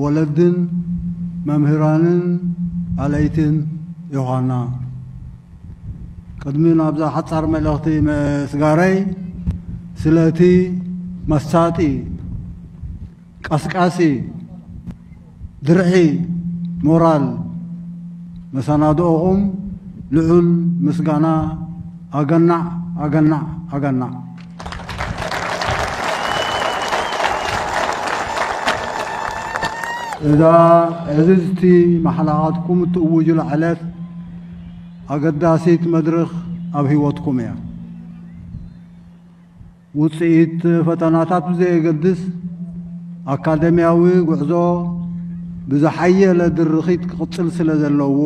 ወለድን መምህራንን ኣለይትን ዮሃና ቅድሚ ናብዛ ሓጻር መልእኽቲ ምስጋረይ ስለ እቲ መሳጢ፣ ቀስቃሲ፣ ድርዒ ሞራል መሰናድኦኹም ልዑል ምስጋና ኣገናዕ ኣገናዕ ኣገናዕ። እዛ ዕዝዝቲ ማሕላኻትኩም እትእውጁላ ዕለት ኣገዳሲት መድርኽ ኣብ ህይወትኩም እያ። ውፅኢት ፈተናታት ብዘየገድስ ኣካደምያዊ ጉዕዞ ብዝሓየለ ድርኺት ክቕፅል ስለ ዘለዎ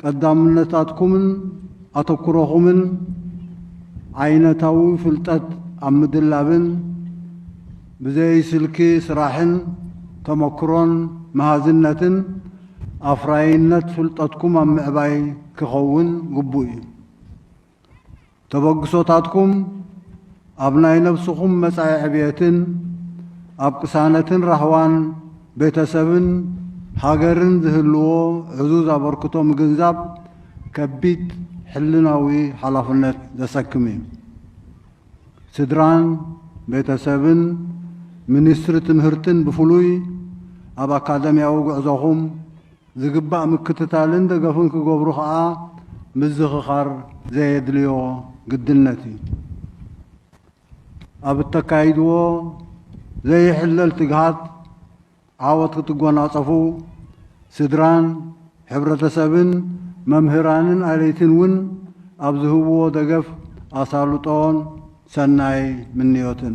ቀዳምነታትኩምን ኣተኩሮኹምን ዓይነታዊ ፍልጠት ኣብ ምድላብን ብዘይ ስልኪ ስራሕን ተመክሮን መሃዝነትን ኣፍራይነት ፍልጠትኩም ኣብ ምዕባይ ክኸውን ግቡእ እዩ። ተበግሶታትኩም ኣብ ናይ ነብስኹም መጻኢ ዕብየትን ኣብ ቅሳነትን ራህዋን ቤተሰብን ሃገርን ዝህልዎ ዕዙዝ ኣበርክቶ ምግንዛብ ከቢድ ሕልናዊ ሓላፍነት ዘሰክም እዩ። ስድራን ቤተሰብን ሚኒስትሪ ትምህርትን ብፍሉይ ኣብ ኣካደምያዊ ጉዕዞኹም፣ ዝግባእ ምክትታልን ደገፍን ክገብሩ ከኣ ምዝኽኻር ዘየድልዮ ግድነት እዩ። ኣብ እተካይድዎ ዘይሕለል ትግሃት ዓወት ክትጎናጸፉ፣ ስድራን፣ ሕብረተሰብን፣ መምህራንን ኣለይትን እውን ኣብ ዝህብዎ ደገፍ ኣሳልጦን ሰናይ ምንዮትን።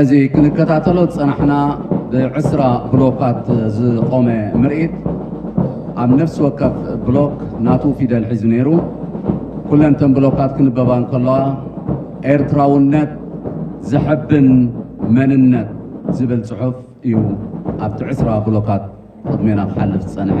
እዚ ክንከታተሎ ዝጸናሕና ብዕስራ ብሎካት ዝቖመ ምርኢት፣ ኣብ ነፍሲ ወከፍ ብሎክ ናቱ ፊደል ሒዙ ነይሩ። ኩለን እተን ብሎካት ክንበባ እንከለዋ ኤርትራውነት ዘሐብን መንነት ዝብል ጽሑፍ እዩ ኣብቲ ዕስራ ብሎካት ቅድሜና ክሓልፍ ዝጸንሐ።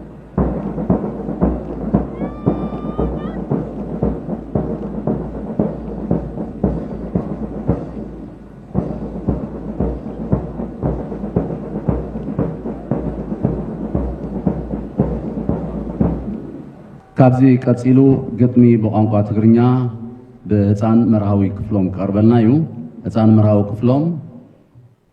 ካብዚ ቀፂሉ ግጥሚ ብቋንቋ ትግርኛ ብህፃን መርሃዊ ክፍሎም ቀርበልና እዩ ህፃን መርሃዊ ክፍሎም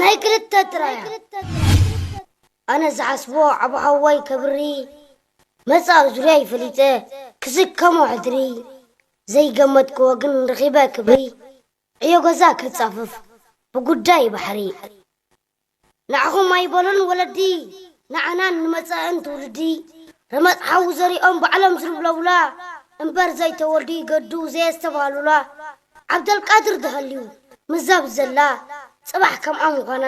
ናይ ክልተ ጥራያ ኣነ ዝሓስቦ ዓብ ሓዋይ ከብሪ መጻእ ዙርያ ይፈሊጠ ክስከሞ ሕድሪ ዘይገመትክዎ ግን ረኺበ ክብሪ ዕዮ ገዛ ክጻፍፍ ብጉዳይ ባሕሪ ንዓኹም ኣይበሉን ወለዲ ንዓናን ንመጻእን ትውልዲ ረመጽ ሓዊ ዘሪኦም ባዕሎም ዝልብለቡላ እምበር ዘይተወልዱ ይገዱ ዘየስተብሃሉላ ዓብደልቃድር ተሃልዩ ምዛብ ዘላ ጽባሕ ከምኣ ምዃና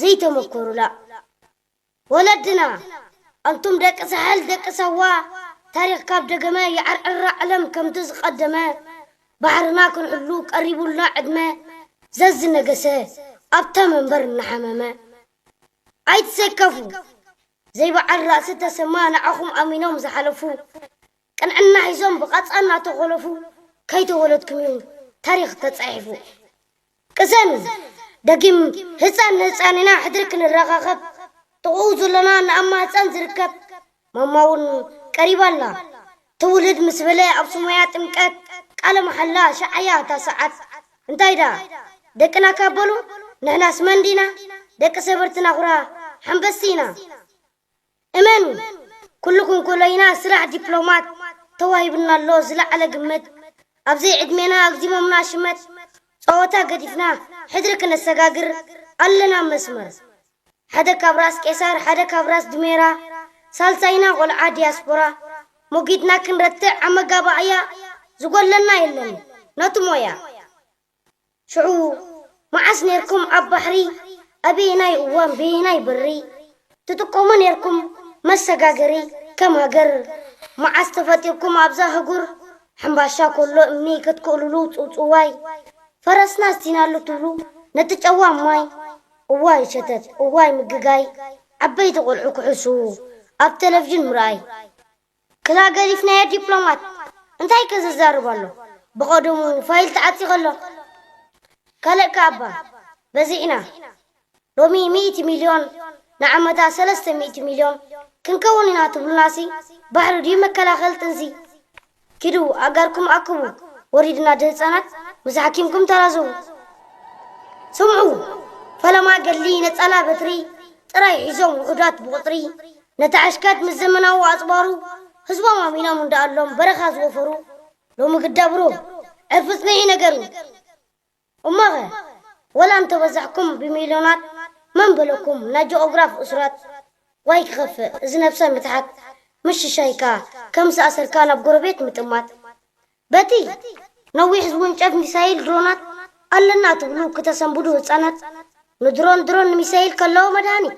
ዘይተመኮሩላ ወለድና ኣንቱም ደቂ ሳሕል ደቂ ሳዋ ታሪኽ ካብ ደገመ ይዓርዕራ ዕለም ከምቲ ዝቀደመ ባሕርና ክንሕሉ ቀሪቡልና ዕድመ ዘዝነገሰ ኣብታ መንበር እናሓመመ ኣይትሰከፉ ዘይበዓል ራእሲ ተሰማ ንዓኹም ኣሚኖም ዝሓለፉ ቅንዕና ሒዞም ብቃጻ እናተኾለፉ ከይተወለድኩምዩ ታሪኽ ተጻሒፉ ቅሰን ደጊም ህጻን ንህጻን ኢና ሕድሪ ክንረኻኸብ ጥቕኡ ዘሎና ንኣማ ህጻን ዝርከብ ማማ ውን ቀሪባ ኣላ ትውልድ ምስ በለ ኣብ ሱማያ ጥምቀት ቃለ መሓላ ኣሻዓያ እታ ሰዓት እንታይ ደኣ ደቅናካ በሉ ንሕናስ መን ዲና ደቂ ሰበርትና ኹራ ሓንበስቲ ኢና እመኑ ኩሉኩም ኮሎይና ስራሕ ዲፕሎማት ተዋሂቡና ኣሎ ዝለዓለ ግምት ኣብዘይ ዕድሜና ኣግዚሞምና ሽመት ጸወታ ገዲፍና ሕድሪ ክነሰጋግር ኣለና መስመር ሓደ ካብ ራስ ቄሳር ሓደ ካብ ራስ ድሜራ ሳልሳይና ቆልዓ ዲያስፖራ ሞጊትና ክንረትዕ ኣመጋባእያ ዝጎለና የለን ነቲ ሞያ ሽዑ መዓስ ኔርኩም ኣብ ባሕሪ ኣበየናይ እዋን በየናይ በሪ ትጥቀሙ ኔርኩም መሰጋገሪ ከም ሃገር መዓስ ተፈጢርኩም ኣብዛ ኣህጉር ሕምባሻ ኮሎ እምኒ ክትክእልሉ ጽውጽዋይ ፈረስና ኣስቲናሉ ትብሉ ነቲ ጨዋም ማይ እዋይ ሸተት እዋይ ምግጋይ ዓበይቲ ቆልዑ ክሕስዉ ኣብ ተለቭዥን ምርኣይ ክላ ገዲፍናዮ ዲፕሎማት እንታይ ከዘዛርብ ኣሎ ብቀደሙ ፋይል ተዓጺኸ ኣሎ ካልእ ከኣ እባ በዚሕና ሎሚ ሚእቲ ሚልዮን ንዓመታ ሰለስተ ሚእቲ ሚልዮን ክንከውን ኢና ትብሉናሲ ባሕሪ ድዩ መከላኸል ጥንሲ ኪዱ ኣእጋርኩም ኣክቡ ወሪድና ድህጻናት ምስ ሓኪምኩም ተላዘቡ ስምዑ ፈለማ ገድሊ ነጻላ በትሪ ጥራይ ሒዞም ውሑዳት ብቁጽሪ ነቲ ዕሽቀት ምስ ዘመናዊ ኣጽዋሩ ህዝቦም ኣሚኖም እንዳኣሎም በረኻ ዝወፈሩ ሎሚ ግዳ ብሩህ ዕርፊ ጽንዒ ነገር እዩ። እሞኸ ወላ እንተበዛሕኩም ብሚልዮናት መን በለኩም ናይ ጂኦግራፍ እሱራት ዋይ ክኸፍእ እዚ ነብሰ ምትሓት ምስ ሽሻይካ ከም ዝኣሰርካ ናብ ጎረቤት ምጥማት በቲ ነዊሕ ዝውንጨፍ ሚሳይል ድሮናት ኣለና ትብሉ ክተሰንብዱ ህጻናት ንድሮን ድሮን ንሚሳይል ከለዎ መድሃኒት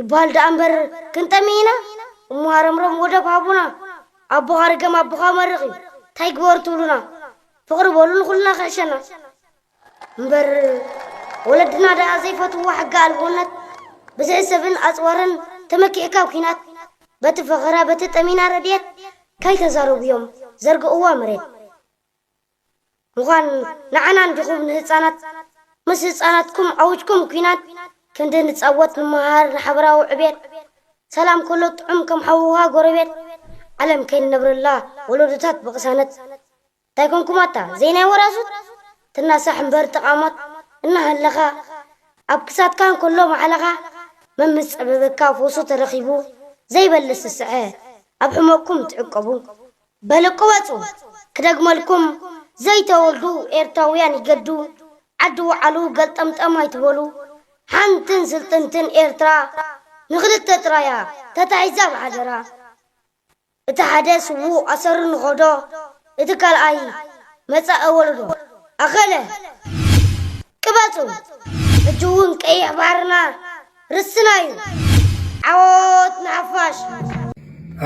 ይበሃል ደኣ እምበር ክንጠሚ ኢና እሞ ሃረምረም ወደብ ሃቡና ኣቦኻ ርገም ኣቦኻ መርቕ እዩ ታይ ግበሩ ትብሉና ፍቕሪ በሉ ንኹልና ክሕሸና እምበር ወለድና ደኣ ዘይፈትዎ ሕጊ ኣልቦነት ብዝሒ ሰብን ኣፅዋርን ተመኪዕካ ኣብ ኲናት በቲ ፈኸራ በቲ ጠሚና ረድኤት ካይተዛረቡ እዮም ዘርግእዋ መሬት ምዃን ንዓና እንዲኹም ንህጻናት ምስ ህጻናትኩም ዓውጅኩም ኩናት ክንዲ ንጻወት ንመሃር ንሓበራዊ ዕብየት ሰላም ከሎ ጥዑም ከም ሓውኻ ጎረቤት ዓለም ከይንነብረላ ወሎዶታት ብቕሳነት እንታይ ኮንኩም ኣታ ዘይናይ ወራዙት ትናሳሕ እምበር ተቓሞት እናሃለኻ ኣብ ክሳድካ እንከሎ ማሕለኻ መን ምስ ጸበበካ ፈውሱ ተረኺቡ ዘይበልስ ዝስዐ ኣብ ሕመቕኩም ትዕቀቡ በሉ ቅበጹ ክደግመልኩም ዘይተወልዱ ኤርትራውያን ይገዱ ዓዲ ውዓሉ ገልጠምጠም ኣይትበሉ ሓንትን ስልጥንትን ኤርትራ ንክልተ ጥራያ ተታሒዛ ብሓደራ እቲ ሓደ ስዉእ ኣሰሩ ንከዶ እቲ ካልኣይ መጻኢ ወለዶ ኣኸለ ቅበጹ ሕጂ እውን ቀይሕ ባሕርና ርስትና እዩ ዓወት ንሓፋሽ።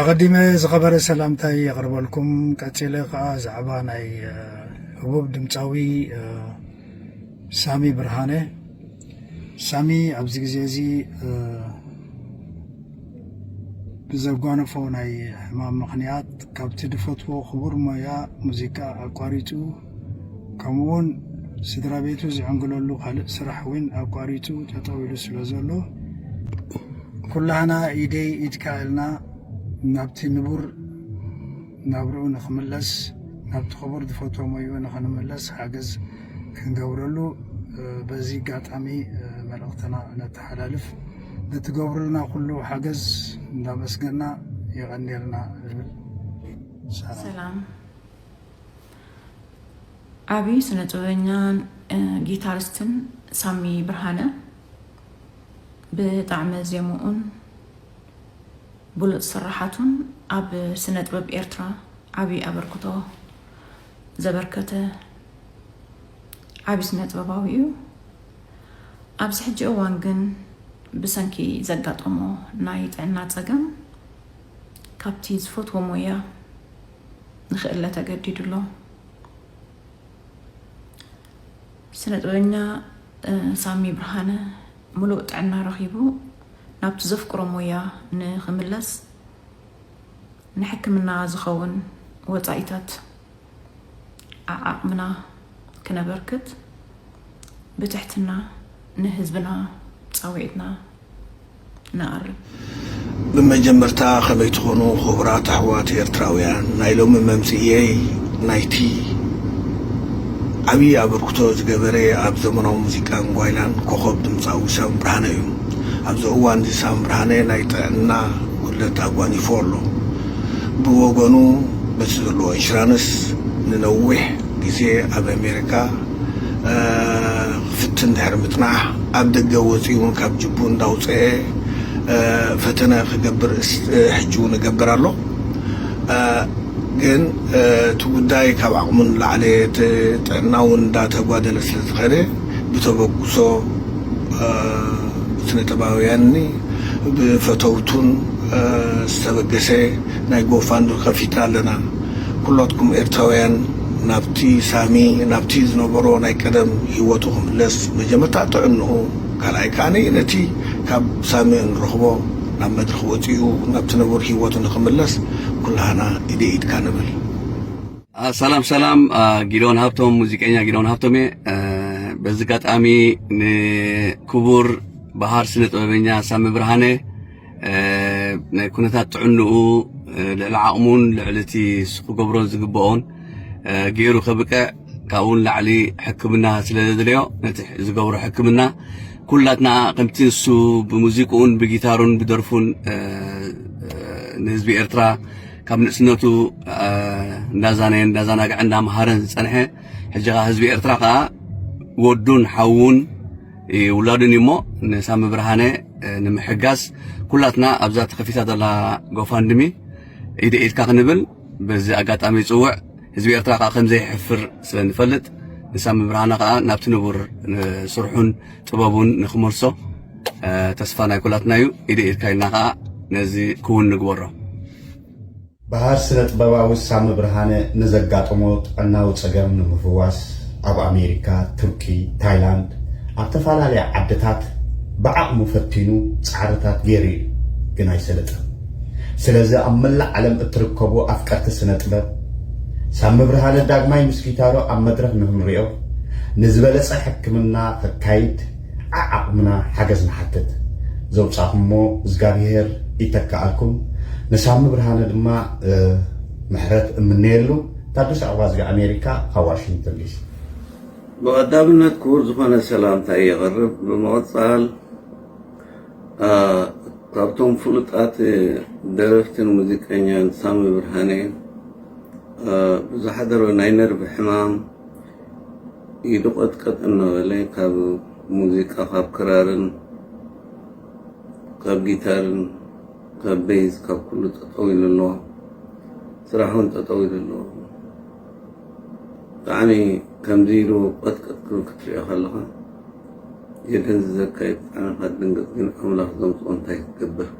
ኣቐዲመ ዝኸበረ ሰላምታይ የቕርበልኩም ቀጺለ ከኣ ዛዕባ ናይ ህቡብ ድምጻዊ ሳሚ ብርሃነ ሳሚ ኣብዚ ግዜ እዚ ብዘጓነፎ ናይ ሕማም ምኽንያት ካብቲ ድፈትዎ ክቡር ሞያ ሙዚቃ ኣቋሪጹ ከምኡውን ስድራ ቤቱ ዝዕንግለሉ ካልእ ስራሕ እውን ኣቋሪፁ ጠጠው ኢሉ ስለ ዘሎ ኩላህና ኢደይ ኢድካ ኢልና ናብቲ ንቡር ናብርኡ ንክምለስ ናብቲ ክቡር ዝፈቶ ሞይኡ ንክንምለስ ሓገዝ ክንገብረሉ በዚ ኣጋጣሚ መልእኽትና ነተሓላልፍ ንትገብሩልና ኩሉ ሓገዝ እንዳመስገና የቐንየልና ዝብል ሰላም ዓብዪ ስነ ጥበበኛን ጊታሪስትን ሳሚ ብርሃነ ብጣዕሚ ዜምኡን ብሉፅ ስራሓቱን ኣብ ስነ ጥበብ ኤርትራ ዓብዪ ኣበርክቶ ዘበርከተ ዓብዪ ስነ ጥበባዊ እዩ። ኣብዚ ሕጂ እዋን ግን ብሰንኪ ዘጋጠሞ ናይ ጥዕና ፀገም ካብቲ ዝፈትዎ ሞያ ንክእለ ተገዲዱ ኣሎ። ስነ ጥበበኛ ሳሚ ብርሃነ ሙሉእ ጥዕና ረኺቡ ናብቲ ዘፍቅሮ ሞያ ንክምለስ ንሕክምና ዝኸውን ወፃኢታት ዓዓቕምና ክነበርክት ብትሕትና ንህዝብና ፃውዒትና ንኣሪ። ብመጀመርታ ከመይ ትኾኑ ኹብራት ኣሕዋት ኤርትራውያን ናይ ሎሚ መምጽኢየይ ናይቲ ዓብዪ ኣበርክቶ ዝገበረ ኣብ ዘመናዊ ሙዚቃን ጓይላን ኮኾብ ድምጻዊ ሳም ብርሃነ እዩ ኣብዚ እዋንዚ ሳም ብርሃነ ናይ ጥዕና ጉድለት ኣጓኒፎ ኣሎ ብወገኑ በቲ ዘለዎ ኢንሹራንስ ንነዊሕ ግዜ ኣብ ኣሜሪካ ፍትን ድሕሪ ምጽናሕ ኣብ ደገ ወጺኡ ውን ካብ ጅቡኡ እንዳውጸኤ ፈተነ ክገብር ሕጂ ውን እገብር ኣሎ ግን እቲ ጉዳይ ካብ ዓቕሙ ንላዕሊ እቲ ጥዕና ውን እንዳተጓደለ ስለ ዝኸደ ብተበግሶ ብስነጥበባውያንኒ ብፈተውቱን ዝተበገሰ ናይ ጎፋንዱ ከፊትና ኣለና ኩሎትኩም ኤርትራውያን ናብቲ ሳሚ ናብቲ ዝነበሮ ናይ ቀደም ሂወቱ ክምለስ መጀመርታ ጥዕንኡ ካልኣይ ከኣ ነቲ ካብ ሳሚ እንረኽቦ ናብ መድረኽ ወጺኡ ናብቲ ንቡር ሂወቱ ንኽምለስ ኩላህና ኢደይ ኢድካ ንበል። ሰላም ሰላም ጊዶን ሃብቶም ሙዚቀኛ ጊዶን ሃብቶም እየ በዚ ኣጋጣሚ ንክቡር ባህር ስነ ጥበበኛ ሳሚ ብርሃነ ናይ ኩነታት ጥዕንኡ ልዕሊ ዓቕሙን ልዕሊ እቲ ክገብሮ ዝግብኦን ገይሩ ከብቅዕ ካብኡ ንላዕሊ ሕክምና ስለ ዘድልዮ ነቲ ዝገብሮ ሕክምና ኩላትና ከምቲ ንሱ ብሙዚቅኡን ብጊታሩን ብደርፉን ንህዝቢ ኤርትራ ካብ ንእስነቱ እንዳዛነየ እንዳዛናግዐ እንዳምሃረን ዝፀንሐ ሕጂ ከዓ ህዝቢ ኤርትራ ከዓ ወዱን ሓውን ይውላድን እዩ እሞ ንሳሚ ብርሃነ ንምሕጋዝ ኩላትና ኣብዛ ተኸፊታ ዘላ ጎፋንድሚ ኢደ ኢድካ ክንብል በዚ ኣጋጣሚ ይፅውዕ ህዝቢ ኤርትራ ከዓ ከምዘይሕፍር ስለ ንፈልጥ ንሳሚ ብርሃነ ከዓ ናብቲ ንቡር ስርሑን ጥበቡን ንክመልሶ ተስፋ ናይ ኩላትና እዩ ኢደ ኢድካ ኢልና ከዓ ነዚ ክውን ንግበሮ በሃር ስነጥበባዊ ሳሚ ብርሃነ ንዘጋጠሞ ጥዕናዊ ጸገም ንምፍዋስ ኣብ ኣሜሪካ፣ ቱርኪ፣ ታይላንድ ኣብ ተፈላለያ ዓድታት ብዓቕሙ ፈቲኑ ጻዕርታት ገይሩ እዩ ግን ኣይሰለጠን። ስለዚ ኣብ መላእ ዓለም እትርከቡ ኣፍቀርቲ ስነጥበብ ሳሚ ብርሃነ ዳግማይ ምስ ጊታሩ ኣብ መድረኽ ንክንሪኦ ንዝበለጸ ሕክምና ከካይድ ዓዓቅምና ሓገዝ ንሓትት ዘውጻኹሞ እዝጋብሄር ይተከኣልኩም ንሳሚ ብርሃነ ድማ ምሕረት እምነየሉ ታደሰ ኣዋዝጋ ኣሜሪካ ካብ ዋሽንግተን ዲሲ። ብቐዳምነት ክቡር ዝኾነ ሰላምታይ የቕርብ ብምቕጻል ካብቶም ፍሉጣት ደረፍትን ሙዚቀኛን ሳሚ ብርሃነ ብዝሓደሮ ናይ ነርቭ ሕማም ኢዱ ቀጥቀጥ እናበለ ካብ ሙዚቃ ካብ ክራርን ካብ ጊታርን ካብ ቤዝ ካብ ኩሉ ጠጠው ኢሉ ኣሎ ስራሕውን ጠጠው ኢሉ ኣሎ ብጣዕሚ ከምዚ ኢሉ ቀጥቀጥ ክብል ክትሪኦ ከለኻ የደንዝዘካ እዩ ብጣዕሚ ከትድንግፅ ግን ኣምላኽ ዘምፅኦ እንታይ ክትገብር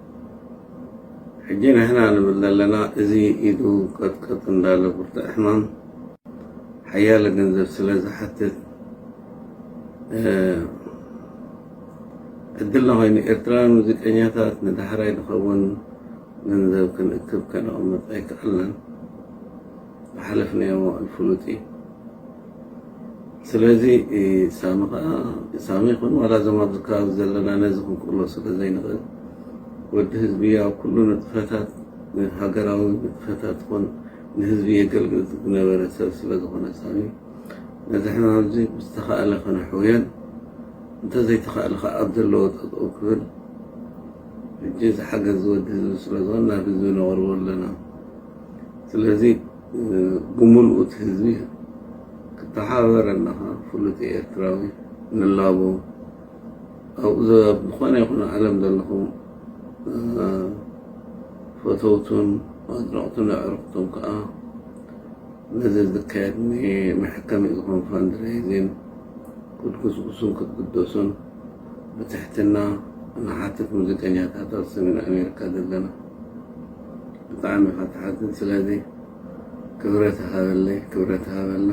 ሕጂ ንሕና ንብል ዘለና እዚ ኢዱ ቀጥቀጥ እንዳለ ብርቱዕ ሕማም ሓያለ ገንዘብ ስለ ዝሓትት ዕድልና ኮይኑ ኤርትራውያን ሙዚቀኛታት ንዳሕራይ ዝኸውን ገንዘብ ክንእክብ ከነቕምጥ ኣይከኣልናን ዝሓለፍናዮ መዋእል ፍሉጥ እዩ ስለዚ ሳሚ ከዓ ሳሚ ይኹን ዋላ እዞም ኣብዚ ከባቢ ዘለና ነዚ ክንቅሎ ስለ ዘይንኽእል ወዲ ህዝቢ ኣብ ኩሉ ንጥፈታት ሃገራዊ ንጥፈታት ኾን ንህዝቢ የገልግል ዝነበረ ሰብ ስለ ዝኾነ ሳሚ ነዚ ሕማም እዚ ብዝተኻእለ ከነሕውዮን እንተዘይተኻእለ ከኣ ኣብ ዘለዎ ጠጠው ክብል ሕጂ እዚ ሓገዝ ዝወዲ ህዝቢ ስለ ዝኾነ ናብ ህዝቢ ነቕርቦ ኣለና ስለዚ ብምልኡ እቲ ህዝቢ ክተሓባበረና ከኣ ፍሉጥ ኤርትራዊ ንላቦ ኣብ ዝኾነ ይኹን ዓለም ዘለኹም ፈተውቱን ኣድነቕቱን ኣዕሩኽቱን ከኣ ነዚ ዝካየድ መሕከሚ ዝኾን ፋንድሬይዚን ክትጉስጉሱን ክትግደሱን ብትሕትና ንሓትት ሙዚቀኛታት ኣብ ሰሜን ኣሜሪካ ዘለና ብጣዕሚ ኢኻ ትሓዝን ስለዚ ክብረት ሃበለይ ክብረት ሃበልና